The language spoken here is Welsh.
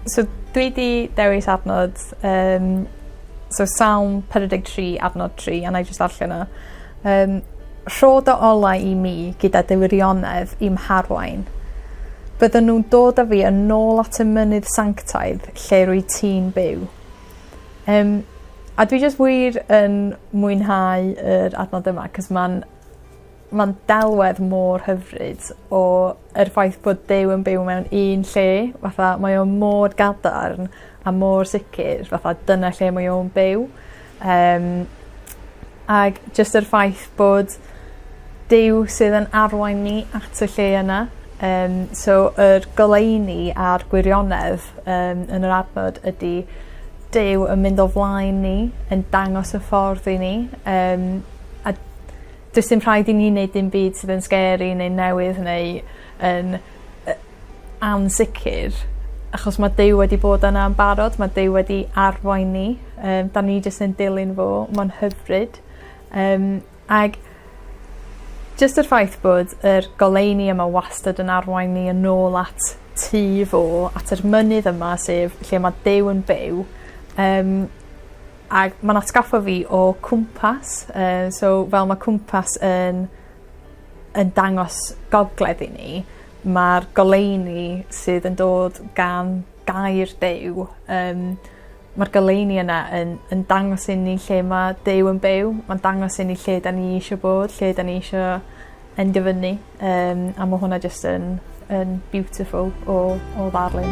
So dwi 'di dewis adnodd yym so Salm pedwar deg tri adnod tri a 'nai jyst ddarllen o. Yym rho dy olau i mi gyda dy wirionedd i'm harwain. Bydden nw'n dod â fi yn ôl at y mynydd sanctaidd lle rwyt ti'n byw. Yym a dwi jyst wir yn mwynhau yr adnodd yma 'c'os ma'n Ma'n delwedd mor hyfryd o yr ffaith bod Duw yn byw mewn un lle fatha mae o mor gadarn a mor sicir fatha dyna lle mae o'n byw yym ag jyst yr ffaith bod Duw sydd yn arwain ni at y lle yna yym so yr goleuni a'r gwirionedd yym yn yr adnod ydi Duw yn mynd o flaen ni yn dangos y ffordd i ni yym a Does dim rhaid i ni neud dim byd sydd yn scary neu newydd neu yn yy ansicir achos ma' Duw wedi bod yna yn barod ma' Duw wedi arwain ni yym 'dan ni jyst yn dilyn fo ma'n hyfryd yym ag jyst yr ffaith bod yr goleuni yma wastad yn arwain ni yn ôl at tŷ fo at yr mynydd yma sef lle ma' Duw yn byw yym Ag ma'n atgoffa fi o cwmpas yy so fel ma' cwmpas yn yn dangos gogledd i ni ma'r goleuni sydd yn dod gan gair Duw yym ma'r goleuni yna yn yn dangos i ni lle ma' Duw yn byw ma'n dangos i ni lle 'dan ni isho bod lle 'dan ni isho endyfynnu. Yym a ma' hwnna jyst yn yn beautiful o o ddarllen.